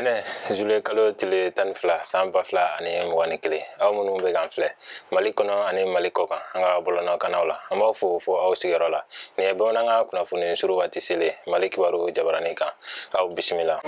ntɛnɛn zule kalo tile tan ni fila san ba fila ani mugan ni kelen aw minnu bɛ k'an filɛ mali kɔnɔ ani mali kɔkan an ka bɔlɔnɔkannaw la an b'aw fo fo aw sigiyɔrɔ la nin ye bamanankan kunnafoni suru waati selen mali kibaru jabaranin kan aw bisimila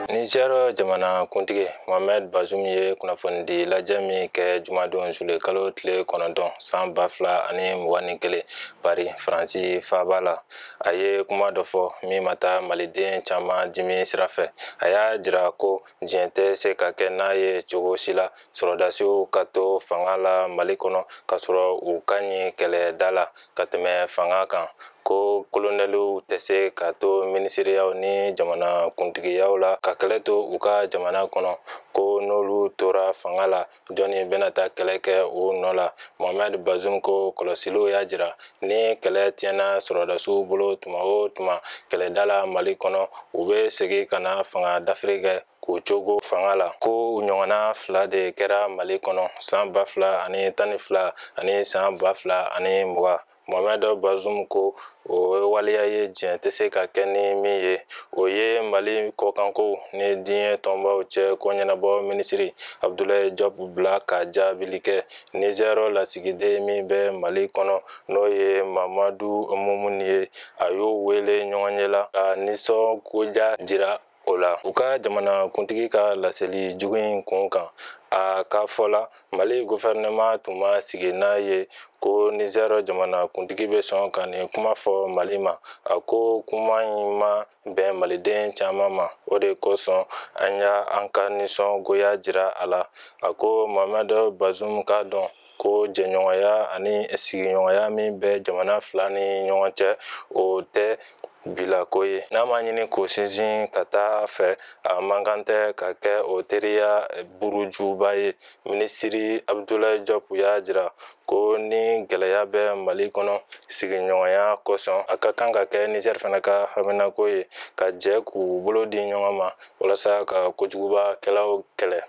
nizɛr jamana kuntigi mohamɛd bazum ye kunnafonidi lajɛ min kɛ jumadon zule kalo tile kɔnɔntɔn san ba fila ani mugan ni kelen pari faransi faaba la a ye kuma dɔ fɔ min ma taa maliden caman dimi sira fɛ a y'a jira ko diɲɛ tɛ se ka kɛ n'a ye cogo si la sɔrɔdasiw ka to fanga la mali kɔnɔ k'a sɔrɔ u ka ɲi kɛlɛda la ka tɛmɛ fanga kan ko kolonɛliw tɛ se ka to minisiriyaw ni jamana kuntigiyaw la ka kɛlɛ to u ka jamana kɔnɔ ko n'olu tora fanga la jɔnni bɛna taa kɛlɛ kɛ u nɔ la mohamɛd bazum ko kɔlɔsiliw y'a jira ni kɛlɛ tiɲɛna sɔrɔdasiw bolo tuma o tuma kɛlɛda la mali kɔnɔ u bɛ segin ka na fanga dafiri kɛ k'u cogo fanga la ko o ɲɔgɔnna fila de kɛra mali kɔnɔ san ba fila ani tan ni fila ani san ba fila ani mugan mohamɛd bazum ko o ye waleya ye diɲɛ tɛ se ka kɛ ni min ye o ye mali kɔkanko ni diɲɛ tɔnbaw cɛ ko ɲɛnabɔ minisiri abudulayi jɔp bila ka jaabili kɛ nizɛri lasigiden min bɛ mali kɔnɔ n'o ye mamadu mumun ye a y'o wele ɲɔgɔnye la ka nisɔngoya jira o la u ka jamanakuntigi ka laseli jugu in kun kan a ka fɔ la mali gofɛrɛnɛma tun ma sigi n'a ye ko nizɛrɛ jamanakuntigi bɛ sɔn ka nin kuma fɔ mali ma a ko kuma in ma bɛn maliden caman ma o de kosɔn an y'an ka nisɔngoya jira a la a ko mohamɛd bazum k'a dɔn ko jɛɲɔgɔnya ani sigiɲɔgɔnya min bɛ jamana fila ni ɲɔgɔn cɛ o tɛ bilako ye n'a ma ɲini k'o sinsin ka taa fɛ a man kan tɛ ka kɛ o teriya burujuba ye minisiri abudulayi jɔp y'a jira ko ni gɛlɛya bɛ mali kɔnɔ sigiɲɔgɔnya kosɔn a ka kan ka kɛ nizɛri fana ka haminako ye ka jɛ k'u bolo di ɲɔgɔn ma walasa ka kojugubakɛlaw kɛlɛ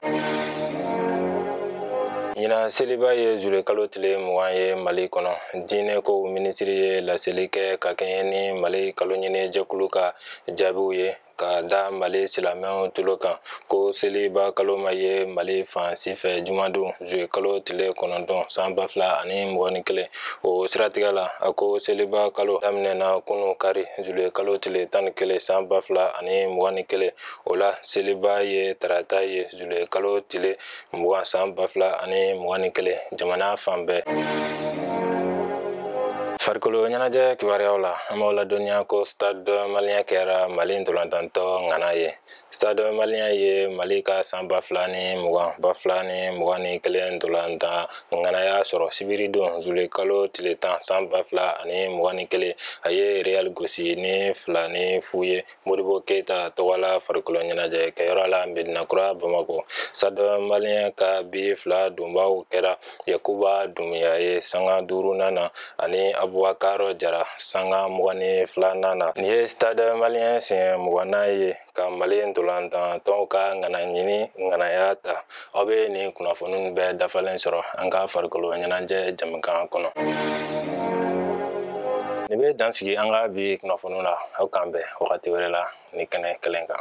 ɲinan seliba ye zulekalo tile mugan ye mali kɔnɔ diinɛ kow minisiri ye laseli kɛ ka kɛɲɛ ni mali kaloɲini jɛkulu ka jaabiw ye ka da mali silamɛw tulo kan ko seliba kalo ma ye mali fan si fɛ jumadon zule kalo tile kɔnɔntɔn san ba fila ani mugan ni kelen o siratigɛ la a ko seliba kalo daminɛna kunu kari zule kalo tile tan ni kelen san ba fila ani mugan ni kelen o la seliba ye tarata ye zule kalo tile mugan san ba fila ani mugan ni kelen jamana fan bɛɛ farikolo ɲɛnajɛ kibaruyaw la an b'aw ladɔnniya ko stade malien kɛra mali ntolantantɔn ŋana ye Stade malien ye Mali ka san ba fila ni mugan ba fila ni mugan ni kelen ntolantan ŋanaya sɔrɔ sibiridon zule kalo tile tan san ba fila ani mugan ni kelen a ye Real gosi ni fila ni fu ye Modibo Keita tɔgɔla farikolo ɲɛnajɛ kɛyɔrɔ la Medinakura Bamako. Stade malien ka bi fila donbaw kɛra yakuba dumuya ye sanga duurunan na ani abubakar jara sanga mugan ni filanan na nin ye stade malien siɲɛ mugannan ye ka mali ntolantantɔnw ka ŋanaɲini ŋanaya ta aw be nin kunnafoni bɛɛ dafalen sɔrɔ an ka farikolo ɲɛnajɛ jamukan kɔnɔ nin be dan sigi an ka bi kunnafoni la aw k'an bɛn wagati wɛrɛ la nin kɛnɛ kelen kan